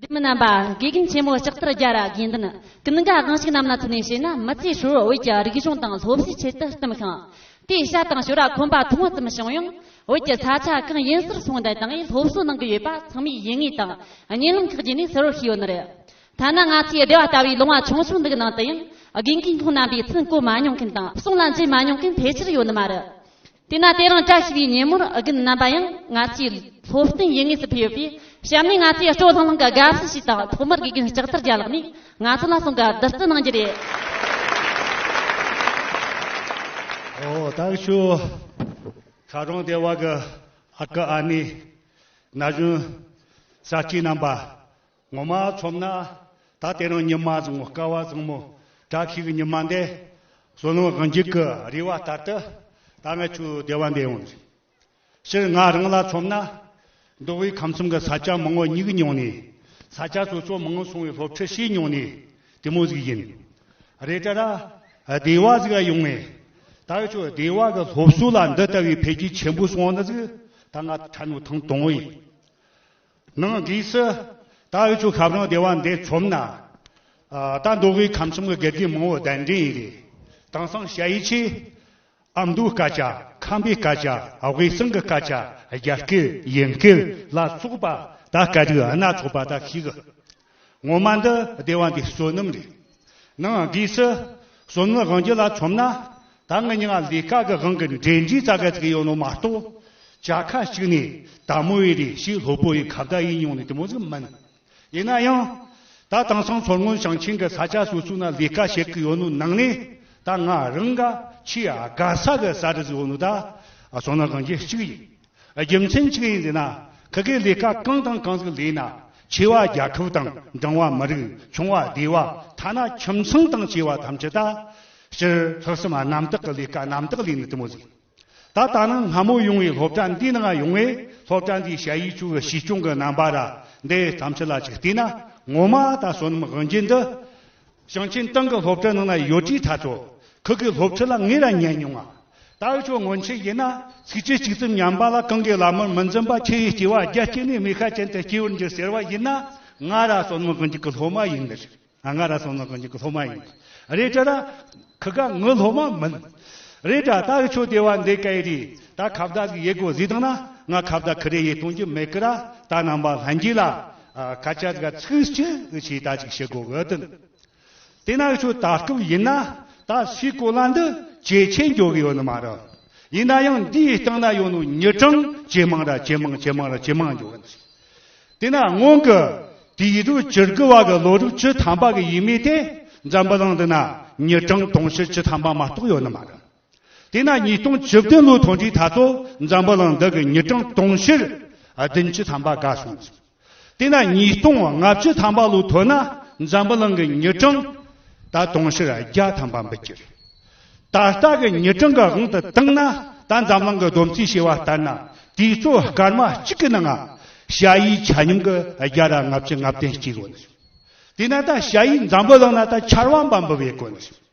སྡེ་མི་རྣམ་པ་དགེ་རྒན་ཆེན་མོ་ལྕགས་ཐར་རྒྱ་ར་དགེ་འདུན་ཀུན་དགའ་དགོན་ཞིག་རྣམས་ལ་ཐུག་ནས་བྱས་ན་མི་ཚེ་ཧྲིལ་བོ་བོད་ཀྱི་རིག་གཞུང་དང་སློབ་གསོའི་ཆེད་དུ་བསྟིམས་ཤིང། དེའི་ཤ་དང་ཞོ་ར་ཁོམ་པ་ཐུང་ངུ་ཙམ་བྱུང་ཡང་བོད་ཀྱི་ས་ཆ་གང་ཡིན་སར་སོང་དེ་དང་ཡང་སློབ་གསོ་གནང་གི་ཡོད་པ་ཚང་མས་ཡིད་ངེས་དང་གཉིད་ལམ་ཁག་བརྗེད་ནས་གསལ་བོར་ཤེས་ཡོད་ནི་རེད། ཐ་ན་ང་ཚོའི་སྡེ་བ་ལྟ་བུའི་ལུང་བ་ཆུང་ཆུང་འདིའི་ནང་དུ་ཡང་དགེ་རྒན་ཁོང་རྣམ་པས་ཚུར་བཀོལ་མ་མྱོང་མཁན་དང་གསུང་ལ་འཛིན་མ་མྱོང་མཁན་ཕལ་ཆེར་ཡོད་ནི་མ་རེད། དེས་ན་དེ་རིང་བཀྲ་ཤིས་པའི་ཉིན་མོར་དགུན་རྣམ་པ་ཡང་ང་ཚོའི་སློབ་སྟོན་ཡུལ་དངོས་སུ་ཕེབས་ཡོད་པས་གཤམ་ནས་ང་ཚོའི་སྤྲོ་ལྷང་ལྷང་གི་དགའ་བསུ་ཞིག་དང་ཐོག་མར་དགེ་རྒན་ལྕགས་ཐར་རྒྱ་ལགས་ནས་ང་ཚོ་ལ་གསུང་བཀའ་བསྡུ་བསྩལ་གནང་རྒྱུ་རེད། ཨོ་ད་ཤུ། ཁ་རོང་སྡེ་བ་གི་ཨ་ཁུ་ཨ་ནེ། ན་གཞོན་ས་སྐྱིད་རྣམ་པ། ངོ་མ་ཆོམ་ན་ད་དེ་རིང་ཉི་མ་བཟང་བོ་སྐལ་བ་བཟང་མོ་བཀྲ་ཤིས་ཀྱི་ཉི་མ་འདི་བསོད་ནམས་དབང་འཇུག་གི་རེ་བ་ལྟར་དུ་ད་ང་ཆུ་བདེ་བ་འདི་ཡོང་རེ་ཕྱིར་ང་རང་ལ་ཆོམ་ན་འདུག་བའི་ཁམས་གསུམ་གྱི་ས་སྐྱ་མང་བོ་སྙིགས་མྱོང་ནས་ས་སྐྱ་སོ་སོ་མང་སོང་བའི་སློབ་ཁྲིད་བྱས་མྱོང་ནས་དེ་མོ་ཟིག་ཡིན་རེ་དྲ་ར་བདེ་བ་ཟིག་ཡོང་ངེ་ད་ཆུ་བདེ་བ་གི་སློབ་གསོ་ལ་འདི་ལྟ་བུའི་འཕེལ་རྒྱས་ཆེན་པོ་སོང་ན་ཟིག་ད་ང་ཁྲ་ནུ་ཐང་དོང་བའི། ནང་གི་སྲི། ད་འུ་ཆོས་ཁབ་རང་སྡེ་བ་འདི་ཆོམ་ན། ད་འདོ་བའི་ཁམས་གསུམ་གི་དགེ་རྒན་མང་བོ་གདན་འདྲེན་ཡི་རེད། དེང་སང་བྱ་ཡི་ཆེ། ཨ་མདོའི་སྐད་ཆ། ཁམས་པའི་སྐད་ཆ། དབུས་གསང་གི་སྐད་ཆ། རྒྱ་སྐད། དབྱིན་སྐད། ལ་སོགས་པ། ད་སྐད་རིགས་སྣ་ཚོགས་པ་ད་ཤིག། ངོ་མ་འདི་སྡེ་བ་འདིའི་བསོད་ནམས་རེད། ནང་སྒོས་སུ་བསོད་ནམས་དབང་རྒྱུད་ལ་ཆོམ་ན་ད་ངི་ཉི་ང་ལས་དཀའ་གི་དབང་གི་འབྲས་འབྲས་རྩ་ག་ཚིག་ཡོད་ནོ་མ་གཏོགས་བྱ་ཁ་ཞིག་ནས་ད་མོ་ཡི་རེ་ཞིག་ལྷོད་པོ་ཡི་ཁ་བརྡ་ཡིན་མྱོང་ནས་དེ་མོ་ཟིག་མིན། ཡིན་ན་ཡང་ད་དེང་སང་མཚོ་སྔོན་ཞིང་ཆེན་གི་ས་ཆ་སོ་སོ་ན་ལས་ཀ་བྱེད་གི་ཡོད་ནོ་ནང་ནས་ད་ང་རང་ག་ཆེས་དགའ་ས་གི་ས་རུ་ཟིག་ཡོད་ནོ་ད་བསོད་ནམས་དབང་རྒྱུད་གཅིག་ཡིན། རྒྱུ་མཚན་གཅིག་ཡིན་ཟེར་ན་ག་གི་ལས་ཀ་གང་དང་གང་ཟིག་ལས་ན་ཆེ་བ་རྒྱ་ཁབ་དང་འབྲིང་བ་མི་རིགས་ཆུང་བ་སྡེ་བ་ཐ་ན་ཁྱིམ་ཚང་དང་བྱེ་བ་ཐམས་ཅད་ད་ཕྱིར་ལྷག་བསམ་རྣམ་དག་གི་ལས་ཀ་རྣམ་དག་ལས་ནི་དུ་མོ་ཟིག་ད་ལྟ་ནི་སྔ་མོ་ཡོང་བའི་སློབ་གྲྭ་འདི་ནང་ཡོང་བའི་སློབ་གྲྭ་འདིའི་བྱ་ཡིག་ཆུ་བོའི་བྱིས་སྐྱོང་གི་རྣམ་པ་ར་འདི་ཐམས་ཅད་ལ་གཅིག་བལྟས་ན་ངོ་མ་ད་བསོད་ནམས་དབང་རྒྱལ་འདི་ཞིང་ཆེན་ཏང་གི་སློབ་གྲྭའི་ནང་ན་ཡོད་དུས་ད་ཆོག་ཁུལ་གྱི་སློབ་ཁྲིད་ལ་ངེད་རང་ཉན་མྱོང་ང། ཏའུ་ཆོས་སྔོན་ཆད་ཡིན་ན་ཚིགས་བཅད་གཅིག་ཙམ་ཉམས་པ་ལ་གང་གི་ལག་དམར་མི་འཛིན་པ་ཁྱེད་ཡི་སྐྱེ་བ་རྒྱ་སྐྱེ་ནས་མི་ཁ་ཅན་དུ་སྐྱེ་བར་འགྱུར་ཟེར་བ་ཡིན་ན་ང་ར་སོ་ནང་གི་འཇིག་གི་སློབ་མ་ཡིན་ནི་རེད་ང་ར་སོ་ནང་གི་འཇིག་གི་སློབ་མ་ཡིན་ནི་རེད་དྲ་ར་ཁུ་ག་ངི་སློབ་མ་མིན་རེད་དྲ་ཏའུ་ཆོས་དེ་བ་འདེ་ཀ་ཡི་རི་ད་ཁ་བརྡ་གི་ཡི་གོ་ཟིག་དང་ན་ང་ཁ་བརྡ་ཁི་རེ་ཡི་གཏོང་གྱི་མེད་གི་ར་ད་རྣམ་པ་ལྷན་རྒྱས་ལ། སྐད་ཆ་འགའ་ཚིག་གཅིག་གཅིག་ལྟ་ཅིག་བྱེད་དགོས་གི་འདུག་དེས་ན་ཁྱོད་ལྟ་སྐབས་ཡིན་ན་ད་སའི་གོ་ལ་འདི་ཇེ་ཆེ་འགྱུར་གི་ཡོད་ནི་མ་རེད། ཡིན་ན་ཡང་འདིའི་སྟེང་ན་ཡོད་ནོ་ཉི་གྲངས་ཇེ་མང་ར་ཇེ་མང་ཇེ་མང་ར་ཇེ་མང་འགྱུར་གི་འདུག་དེས་ན་སྔོན་གི་དུས་ཡིག་དྲུག་བཅུར་གི་བར་གི་ལོ་དྲུག་ཅུ་ཐམ་པ་གི་ཡིག་མིག་དེ་འཛམ་བུ་གླིང་འདི་ན་ཉི་གྲངས་དུང་ཕྱུར་བཅུ་ཐམ་པ་མ་གཏོགས་ཡོད་ནི་མ་རེད། དེས་ན་ཉིས་སྟོང་བཅུ་བདུན་ལོའི་དོན་དུས་ད་ལྟོ་འཛམ་བུ་གླིང་འདི་གི་ཉི་གྲངས་དུང་ཕྱུར་བདུན་བཅུ་ཐམ་པ་འགའ་སོང་ཟིན། དེས་ན་ཉིས་སྟོང་ལྔ་བཅུ་ཐམ་པ་ལོའི་དུས་ན་འཛམ་བུ་གླིང་གི་ཉི་གྲངས་ད་དུང་ཕྱུར་བརྒྱ་ཐམ་པ་འབུད་ཀྱི་རེད། ད་ལྟ་གི་ཉི་གྲངས་གི་དབང་དུ་བཏང་ན་ད་འཛམ་གླིང་གི་བསྡོམས་རྩིས་བྱས་བ་ལྟར་ན་དུས་ཚོད་སྐར་མ་གཅིག་གི་ནང་ང་ཤ་ཡིའི་ཆ་སྙོམས་གི་རྒྱ་ར་ལྔ་བཅུ་ལྔ་བདུན་གཅིག་ཡོད་ན་ཟིན། དེས་ན་ད་ཤ་ཡིས་འཛམ་བུ་གླིང་ན་ད་ཆར་བ་འབའ་འབུད་བའི་དགོས་ན་ཟིན།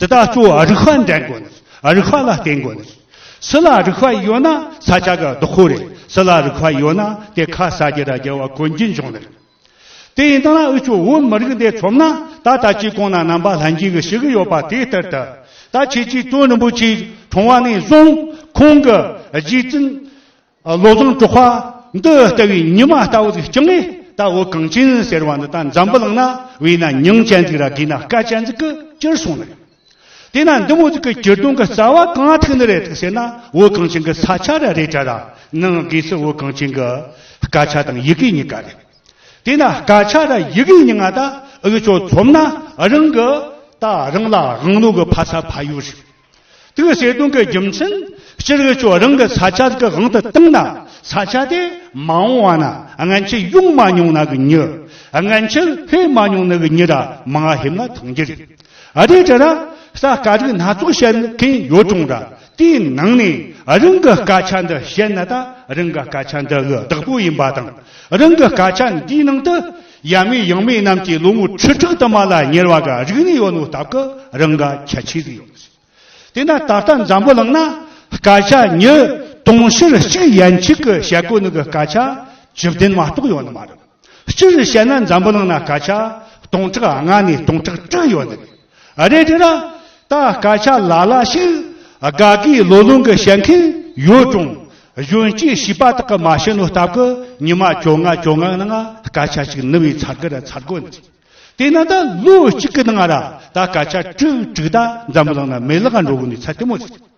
དེ་དག་གཙོ་བོ་རིག་པ་འདྲེན་དགོས་ནས་རིག་པ་ལ་བརྟེན་དགོས་ནས། སུ་ལ་རིག་པ་ཡོད་ན་ས་ཆ་ག་རྡོ་ཁོ་རེད་སུ་ལ་རིག་པ་ཡོད་ན་དེ་ཁ་ས་རྒྱལ་དང་རྒྱལ་བ་གོན་གྱི་འབྱུང་ལེ་རེད། དེ་ཡིན་ད་ན་འུ་ཆོས་བོད་མི་རིགས་འདི་ཚོམ་ན་ད་ལྟ་སྤྱི་ཁོང་ན་རྣམ་པ་ལྷན་གྱིས་ཞིག་ཡོད་པ་དེ་ལྟར་ད་ལྟ་ཁྱེད་ཀྱིས་དོན་རིན་པོ་ཆེའི་གྲོང་བ་ནས་བཟུང་ཁོང་གི་རྗེས་བཙུན། བློ་བཟང་གྲོགས་པ། འདི་ལྟ་བུའི་ཉི་མ་ལྟ་བུ་ཟིག་བསྐྱངས་ནས་ད་འོ་གངས་ཅན་ཟེར་བ་འདི་ད་འཛམ་བུ་གླིང་ན་བས་ན་ཉིང་ཅན་ཟིག་ར་དགོས་ན་སྐལ་ཅན་ཟིག་གི་སྤྱིར་སོང་ནི་རེད། དེས་ན་འདི་མོ་ཟིག་གི་སྤྱིར་བཏང་གི་རྩ་བ་གང་ཐུག་ནི་རེད་ཟེར་ན་འོ་གངས་ཅན་གི་ས་ཆ་ར་རེད་དྲ་ར་ནང་སྒོས་སུ་འོ་གངས་ཅན་གི་སྐད་ཆ་དང་ཡི་གེ་གཉིས་ཀ་རེད། དེས་ན་སྐད་ཆ་ར་ཡི་གེ་གཉིས་ང་ད་འུ་ཅོ་ཚོམ་ན་རང་གི་ད་རང་ལ་དབང་ལུང་གི་ཕ་ས་ཕ་ཡུལ་རེད། དེའི་བརྩེ་དུང་གི་རྒྱུ་མཚན་སྤྱིར་བོད་ལྗོངས་རང་གི་ས་ཆ་གི་དབང་དུ་བཏང་ན་ས་ཆ་དེ་མ་འོངས་བ་ན་ངན་ཆད་ཡོང་མ་མྱོང་ན་གི་མྱི། ངན་ཆད་སླེབས་མ་མྱོང་ན་གི་མྱི་ར་མ་སླེབས་ན་ཐང་རྒྱ་རིགས་ཨ་རིའི་དྲ་ར་ས་དཀའ་རིགས་སྣ་ཚོགས་བཤད་མཁན་ཡོད་གྲོང་ར་དེའི་ནང་ནས་རང་གི་སྐད་ཆ་འདི་བཤད་ན་ད་རང་གི་སྐད་ཆ་འདི་གི་བདག་པོ་ཡིན་པ་དང་རང་གི་སྐད་ཆ་འདིའི་ནང་དུ། ཡབ་མེས་ཡང་མེས་རྣམས་ཀྱི་ལོ་ངོ་ཁྲི་དྲུག་དུ་མ་ལ་ཉེར་བ་འགའ་རིག་གནས་ཡོད་ནོ་སྟབས་ཀྱི་རང་འགའ་ཁྱད་ཆོས་རིགས་ཡོད། དེས་ན་ད་ལྟ་འཛམ་བུ་གླིང་ན་སྐད་ཆ་ཉིས་སྟོང་ཕྱིར་གཅིག་ཡན་གཅིག་གི་བཤད་སྒོ་ནང་གི་སྐད་ཆ་བཅུ་བདུན་མ་གཏོགས་ཡོད་ནི་མ་རེད། སྤྱིར་བཤད་ན་འཛམ་བུ་གླིང་ན་སྐད་ཆ་སྟོང་ཕྲག་ལྔ་ནས་སྟོང་ཕྲག་དྲུག་ཡོད་ནི་རེད། རེད་དེ་ན། ད་སྐད་ཆ་ལ་ལ་ཞིག་དགའ་དགའི་ལོ་ལོང་གི་བཤད་མཁན་ཡོད་ཀྱང། གཞོན་སྐྱེས་བྱིས་པ་དག་གི་མ་བྱེད་ནོ་སྟབས་ཀྱི་ཉི་མ་བཅོ་ལྔ་བཅོ་ལྔའི་ནང་སྐད་ཆ་ཞིག་ནི་བའི་ཚར་དགའ་ར་ཚར་དགོད་འདི། དེ་ན་ད་ལོ་གཅིག་གི་ནང་ར་ད་སྐད་ཆ་དྲུག་དྲུག་ད་འཛམ་གླིང་ན་མེད་ལག་འགྲོ་བོ་ནི་ཚད་དེ་མོ་རེད།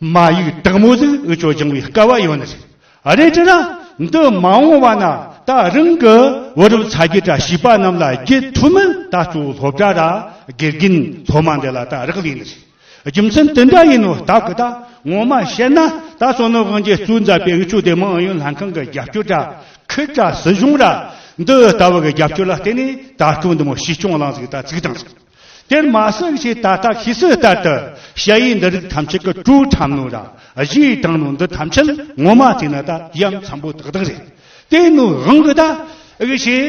མ་ཡིག་དག་མོ་ཟིག་འུ་ཅོ་སྦྱང་བའི་སྐལ་བ་ཡོད་ནི་རེད། རེད་ཅེ་ན། འདི་མ་འོངས་བ་ན་ད་རིང་གི་བུ་རབས་ཚ་རྒྱུད་བཀྲ་ཤིས་པ་རྣམས་ལ་རྒྱུད་ཐུ་མི་ད་ཅོ་སློབ་གྲྭ་ར་དགེ་རྒན་སློབ་མ་འདི་ལ་ད་རག་ལས་ནི་རེད། རྒྱུ་མཚན་དེ་འདྲ་ཡིན་ནོ་ད་གི་ད་ངོ་མ་བཤད་ན་ད་ཅོ་ནི་དབང་རྒྱལ་གཙོས་མཛད་པའི་འུ་ཅོ་སྡེ་དམངས་ཨུ་ཡོན་ལྷན་ཁང་གི་རྒྱབ་སྐྱོར་ར་ཁུལ་ར་སྲིད་གཞུང་ར་འདི་ལྟ་བུ་གི་རྒྱབ་སྐྱོར་ལ་བརྟེན་ནས་ད་ཅོ་འདི་མོ་བྱིས་སྐྱོང་གླང་ཟིག་ད་ཚིག་དང་ཟིག། དེར་མ་ཟད་ཀྱི་ད་ལྟ་ཤེས་གསལ་ལྟར་དུ་བཤད་ཡུལ་འདི་རིགས་ཐམས་ཅད་ཀྱི་སྤྲོའི་ཁྲམ་ནོར་ར་བཞིའི་སྟེང་ནོར་འདི་ཐམས་ཅད་ངོ་མ་བལྟས་ན་ད་ཡམ་འཚམ་པོ་དག་དག་རེད། དེ་ནོར་རང་གི་ད་གི་ཞེས་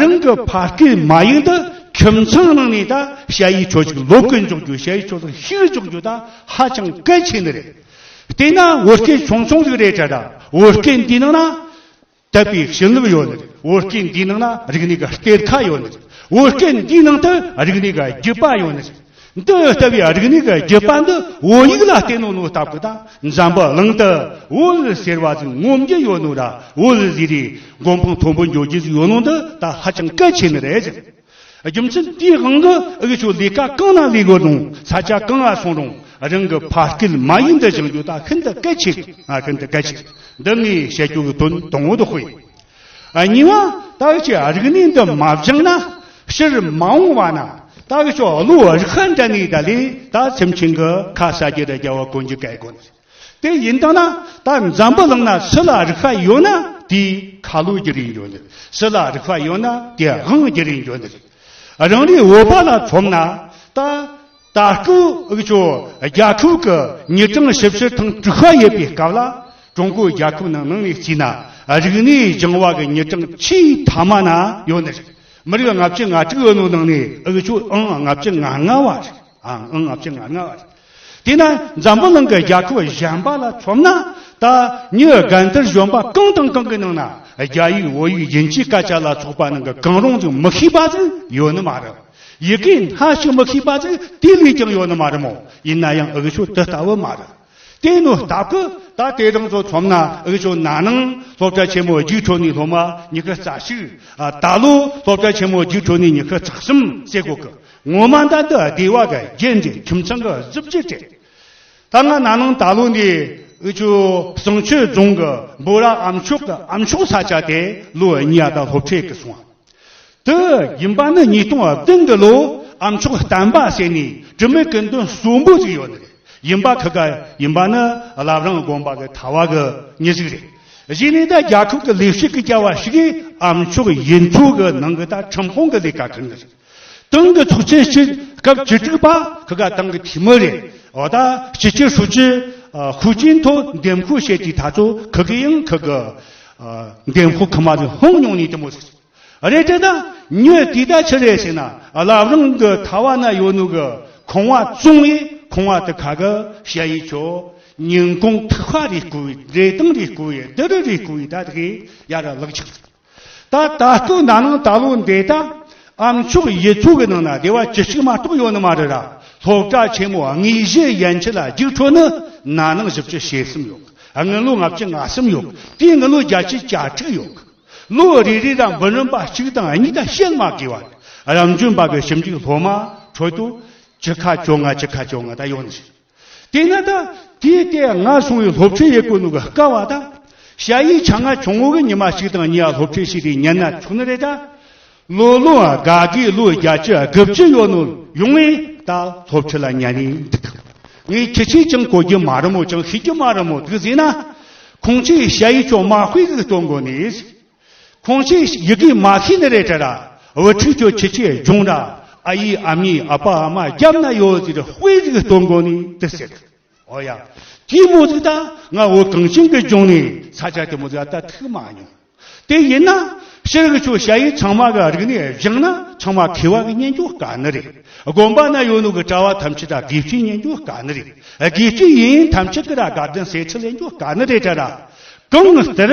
རང་གི་ཕ་སྐད་མ་ཡིག་འདི་ཁྱིམ་ཚང་ནང་ནས་ད་བཤད་ཡུལ་ཆོས་ཅིག་ལོག་གི་འཇོག་རྒྱུ་བཤད་ཡུལ་ཆོས་ལ་ཤིག་འཇོག་རྒྱུ་ད་ཧ་ཅང་གལ་ཆེན་ནི་རེད། དེས་ན་བོད་སྐད་ཆུང་ཆུང་ཞིག་རེད་དྲ་བོད་སྐད་འདིའི་ནང་ན། དད་པའི་བྱིན་རླབས་ཡོད་ནི་འོད་སྐད་འདིའི་ནང་ན་རིག་གནས་ཀྱི་གཏེར་ཁ་ཡོད་ནི། འོད་སྐད་འདིའི་ནང་དུ་རིག་གནས་ཀྱི་རྒྱུད་པ་ཡོད་ནི། འདི་ལྟ་བུའི་རིག་གནས་ཀྱི་རྒྱུད་པ་འདི་འོད་ཡིག་ལ་བརྟེན་ནོ་ནོ་ལྟ་བུ་དང་འཇམ་པོ་གླིང་དུ་འོད་ཟེར་བ་ཅན་ངོམ་རྒྱུ་ཡོད་ནོ་ར་འོད་ཟེར་རེའི་མགོན་དཔུང་མཐོན་པོ་འཇོག་རྒྱུ་ཡོད་ནོ་འདི་ད་ཧ་ཅང་གལ་ཆེ་ནི་རེད། རྒྱུ་མཚན་དེའི་དབང་གིས་དབུལ་ཕྱུག་ལས་ཀ་གང་ན་ལས་དགོས་རུང་ས་ཆ་གང་ལ་སོང་རུང་རང་གི་ཕ་སྐད་མ་ཡིན་དུ་སྦྱང་རྒྱུ་ད་ཤིན་ཏུ་གལ་ཆེ་ཤིན་ཏུ་གལ་ཆེ་འདི་ངས་བཤད་རྒྱུ་གི་དོན་དང་བོ་དགོས། གཉིས་པ། བདག་གི་རིག་གནས་འདི་མ་སྦྱངས་ན་ཕྱིར་མ་འོང་བ་ན་བདག་ཅག་བློ་རིག་ཧ་འདྲ་ངེས་ད་ལས་ད་ཚེམས་ཆེན་གྱི་ཁ་ཟ་རྒྱུ་དང་རྒྱལ་བ་དཀོན་རྒྱུ་གལ་དགོས། དེ་ཡིན་དང་ན་ད་འཛམ་བུ་གླིང་ན་སི་ལ་རིག་པ་ཡོད་ན་དེའི་ཁ་ལོ་རྒྱུ་རིན་ཡོད་ནི་སི་ལ་རིག་པ་ཡོད་ན་དེའི་དབང་རྒྱུ་རིན་ཡོད་ནི་རེད་རང་རེའི་འོད་པ་ལ་ཚོམ་ན་ད་ད་ཀྲུའུ་ཅོ་རྒྱ་ཕྲུག་གི་ཉིས་སྟོང་བཞི་བཞི་དང་དྲུག་ཧ་ཡོད་པའི་སྐབས་ལ་ཀྲུང་གོའི་རྒྱལ་ཁབ་ནང་ནང་ནས་བརྩིས་ན་རིག་གནས་སྦྱང་བ་གི་ཉིས་སྟོང་ཆིའི་ཐ་མ་ན་ཡོད་ནི་རེད་མི་རིགས་ལྔ་བཅུ་ང་དྲུག་ཡོད་ནོ་ནང་ནས་ཨུ་ཅོ་ཨང་ལྔ་བཅུ་ང་ལྔ་བ་རེད་ཨང་ལྔ་བཅུ་ང་ལྔ་བ་རེད། དེས་ན་འཛམ་བུ་གླིང་གི་རྒྱལ་ཁབ་གཞན་པ་ལ་མཚོན་ན་ད་ཉིའི་དགའ་མཐར་གཞོན་པ་གང་དང་གང་གི་ནང་ན་རྒྱ་ཡིག་བོད་ཡིག་རྒྱན་གྱི་སྐད་ཆ་ལ་ཚོགས་པ་ནང་གི་གང་རུང་ཅིག་མི་ཤེས་པ་ཟིག་ཡོད་ནི་མ་རེད། ཡི་གེ་སྣ་ཞིག་མི་ཤེས་པ་ཟིག་དེ་ལས་ཀྱང་ཡོད་ནི་མ་རེད་མོད་ཡིན་ན་ཡང་འུག་ཤོད་དེ་ལྟ་བུ་མ་རེད། དེ་ནི་ལྟ་གི་ད་དེ་རིང་ཚོ་མཚོན་ན་འུག་ཤོད་ན་ནིང་སློབ་གྲྭ་ཆེན་མོ་རྒྱུགས་འཕྲོད་ནས་སློབ་མ་ཉི་ཤུ་རྩ་གཅིག། ད་ལོ་སློབ་གྲྭ་ཆེན་མོ་རྒྱུགས་འཕྲོད་ནས་ཉི་ཤུ་རྩ་གསུམ་བསྲེས་དགོས་ཀི། ངོ་མ་ད་ལྟ་སྡེ་བ་ག་རྒྱན་གྱི་ཁྱིམ་ཚང་གི་གཟི་བརྗིད་དེ་ད་ང་ན་ནིང་ད་ལོ་འདི་ཨི་ཆུ་ཟངས་ཆུ་རྫོང་གི་འབུ་ར་ཨམ་ཆོག་གི་ཨམ་ཆོག་ས་ཆ་དེ་ལོ་གཉིས་ཨ་ད་ལྷོ་ཕྲལ་གི་སོང་བ་དེ་ཡིན་པ་ནི་ཉིས་སྟོང་བདུན་གི་ལོ་ཨམ་ཆོག་བསྟན་པ་ཟེར་ནས་དྲི་མེད་ཀི་མདུན་གསུམ་པོ་ཅིག་ཡོད་ནི་རེད་ཡིན་པ་ཁི་ག་ཡིན་པ་ནི་རླབས་རང་དགོན་པ་གི་ཐ་བ་གི་མྱི་ཟིག་རེད་གཞི་ནས་ད་རྒྱ་ཁབ་གི་ལས་བྱེད་གི་སྐྱ་བ་ཞིག་གིས་ཨམ་ཆོག་ཡིན་ཚུལ་གི་ནང་གི་ད་ཁྲིམས་ཁང་གི་ལས་ཀ་ཁུར་ནི་རེད། ཏང་གི་ཚོགས་ཆེན་སྤྱི་སྐབས་བཅུ་དྲུག་པ་ཁག་གི་ཏང་གི་འཐུས་མི་རེད། འོ་ད་སྤྱི་ཁྱབ་ཧྲུའུ་ཅི་ཧུའུ་ཅིན་ཐོ་འདེམས་ཁུལ་བཤད་ཀྱི་ད་ཚོ་ཁག་གི་ཡང་ཁག་གི་འདེམས་ཁུལ་ཁག་མ་རེད་ཧོང་མྱོང་ནས་དེ་མོ་ཟེར། རེད་དེ་ད་ཉོས་དེ་ད་ཆི་རེད་ཟེར་ན་ལབ་རང་གི་ཐ་བ་ན་ཡོད་ནུ་གི་ཁང་བ་བཙོང་ཡས་ཁང་བ་དེ་ཁག་གི་བཤད་ཡས་ཆོ་ཉིན་གོང་ཐུག་ཧ་རེ་སྐུ་ཡས་རེ་ཏང་རེ་སྐུ་ཡས་དི་རི་རེ་སྐུ་ཡས་ད་དགེ་ཡ་ར་ལག་ཆག་ཟེར། ད་ད་ལྟོ་ན་ནང་ད་ལོ་འདའི་ད་ཨམ་ཕྱོགས་ཡི་ཚོ་གི་ནང་ན་དེ་བ་ཅི་ཞིག་མ་གཏོགས་ཡོད་ནི་མ་རེད་ར་ལྷོ་བྲག་ཆེན་མོ་དངོས་གཞི་ཡན་ཆད་ལ་རྒྱུགས་འཕྲོ་ནི་ན་ནང་བཞི་བཅུ་ཞེ་གསུམ་ཡོད་དངུལ་ལོ་ལྔ་བཅུ་ང་གསུམ་ཡོད་དེའི་དངུལ་ལོ་བརྒྱ་ཆའི་གྱ་དྲུག་ཡོད་ལོ་རེ་རེ་ར་འབུ་རིམ་པ་གཅིག་དང་གཉིས་ད་བཤད་མ་དགོས་བ་རེད་ར་འཇུན་པ་གི་ཞིབ་འཇུག་སློབ་མ་ཁྲོད་དུ་ཅི་ཁ་ཅོ་ང་ཅི་ཁ་ཅོ་ང་ད་ཡོད་ནི་ཞིག། དེས་ན་ད་ལྟའི་ལྟས་ང་སོང་བའི་སློབ་གྲྭའི་ཡས་བཀོད་ནུ་ག་སྐ་བ་དང། བྱ་ཡིས་ཆ་ང་ཆུང་ངུ་གི་ཉི་མ་ཞིག་དང་གཉིས་ཡ་སློབ་གྲྭའི་ཞིག་དེ་ཉན་ན་ཆུག་ནི་རེད་ད། ལོ་ལོ་ཨ་ག་གིས་ལོ་བརྒྱ་བཅུ་ཨ་དགུ་བཅུ་ཡོ་ནུ་ཡོང་བས་ད་སློབ་ཆུ་ལ་ཉན་ནི་འདུག་ངའི་ཁྱི་ཆེ་ཅང་གོ་རྒྱུ་མ་རུ་མོ་ཅང་ཤི་རྒྱུ་མ་རུ་མོ་འདུག་ཟེ་ན། ཁོང་ཆེས་བྱ་ཡིས་ཅོ་མ་དཔེ་གིས་སྟོན་དགོ་ནི། ཁོང་ཚོས་ཡི་གེ་མ་ཤེས་ནི་རེད་དྲ། བུ་ཕྲུག་ཁྱོད་ཁྱི་ཁྱི་རྒྱུང་དྲ། ཨ་ཡེ་ཨ་མྱེ་ཨ་ཕ་ཨ་མ་རྒྱབ་ན་ཡོད་ཟེར་དཔེ་གཟིགས་སྟོད་མགོ་ནས་དེ་ཟེར། ཨོ་ཡ། དེའི་མོ་གཟིགས་ད་ང་བོད་གངས་ཅན་གྱི་ལྗོངས་ནས་ས་ཆ་དེ་མོ་གཟིགས་ད་ཐུག་མ་མྱོང། དེ་ཡིན་ན། ཤེལ་གྱི་ཆུ་བྱ་ཡིས་ཚང་མ་གི་རིག་ནས་བཞེངས་ན་ཚང་མ་མཁས་བ་གི་སྙན་རྒྱུད་དཀའ་ནི་རེད། དགོན་པ་ན་ཡོད་ནུ་གི་གྲྭ་བ་ཐམས་ཅད་དགེ་བཤེས་སྙན་རྒྱུད་དཀའ་ནི་རེད། དགེ་བཤེས་ཡིན་ཐམས་ཅད་གི་ར་དགའ་བདུན་སྲས་ཁྲི་ལེན་རྒྱུད་དཀའ་ནི་རེད་དྲ། གང་ལྟར།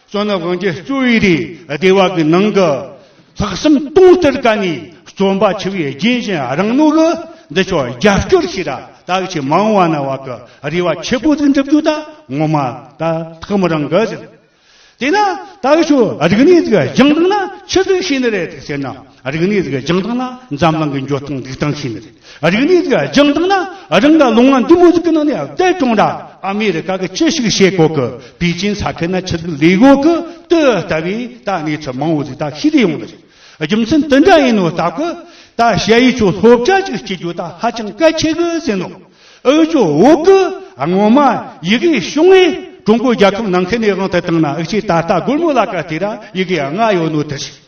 གཙོ་ནི་དབང་ཆེན་གཙོ་བོའི་རིགས་སྡེ་བ་གི་ནང་གི་ལྷག་བསམ་སྟོང་སྟེར་ཀ་ནི་རྩོམ་པ་ཆེ་བའི་རྒྱན་གཞན་རང་ནོར་གི་འདི་ཕྱོགས་རྒྱབ་སྐྱོར་ཞིག་ར་དྭགས་ཆེ་མང་བ་ན་བ་གི་རེ་བ་ཆེ་པོ་འདི་འགྲུབ་རྒྱུ་ད་ངོ་མ་ད་ཐག་མི་རང་གི་ཟིན། དེས་ན་ད་གི་ཆོས་རིག་གནས་ཀྱི་རྒྱང་རིང་ན་ཆི་ཟིག་བྱས་ནི་རེད་ཟེར་ན། རིག་གནས་ཟིག་སྦྱང་སྟངས་ན་འཛམ་གླིང་གི་འགྱོ་སྟངས་འགྲིག་སྟངས་ཤེས་ནི་རེད། རིག་གནས་ཟིག་སྦྱང་སྟངས་ན་རང་གི་ལུང་བ་འདི་མོ་ཟིག་གི་ནང་ནས་བདེ་སྐྱོང་ར་ཨ་མི་རི་ཀ་གི་ཅི་ཞིག་བྱེད་དགོས་ཀི་པི་ཅིན་ས་ཁེ་ན་ཆི་ཟིག་ལས་དགོས་ཀི་ཏི་ལྟ་བུའི་ད་གནས་ཚུལ་མང་བོ་ཟིག་ད་ཤེས་རེ་ཡོང་གི་རེད། རྒྱུ་མཚན་དི་འདྲ་ཡིན་ནོ་ལྟ་གི་ད་བཤད་ཡིག་ཆོས་སློབ་བྱ་ཅིག་སྐྱེ་རྒྱུ་ད་ཧ་ཅང་གལ་ཆེ་གི་ཟིན་ནོ། ཨོའི་ཇོ་བོ་གི་སྔོན་མ་ཡི་གེའི་གཞུང་ངས་ཀྲུང་གོའི་རྒྱལ་ཁབ་ནང་ཁེ་ནས་དབང་དུ་བཏང་ན་ཨི་ཆེས་ད་ལྟ་སྒོར་མོ་ལ་ཀ་ཏི་ར་ཡི་གེ་ལྔ་ཡོད་ནོ་དི་ཞིག།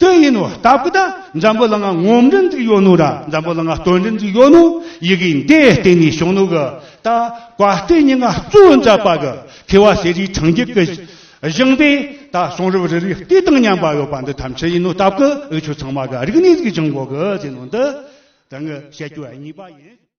དེ་ཡིན་ནོ་སྟབས་ཀི་ད་འཛམ་བུ་ལ་ང་ངོམ་འགྲིན་འཛིག་ཡོད་ནོ་ད་འཛམ་བུ་ལ་ང་སྟོན་འགྲིན་འཛིག་ཡོད་ནོ་ཡི་གི་འདས་སྟེང་ནས་བྱུང་ནོ་གི་ད་བཀའ་སྟེ་ཉི་ང་བཙུ་འཛ་པ་གི་ཁི་བ་ཟེ་རིའི་ཕྲང་རྒྱུད་གི་བཞིང་པས་ད་གསུང་རབ་རི་རི་ལྟོས་དང་མཉམ་པ་ཡོད་པ་འདི་ཐམས་ཅད་ཡིན་ནོ་སྟབས་ཀི་འུ་ཆོས་ཚང་མ་གི་རིག་གནས་གཟིགས་བྱང་གོ་གི་ཟེ་ནོ་འདི་དང་ངི་བཤད་རྒྱུ་གཉིས་པ་ཡིན།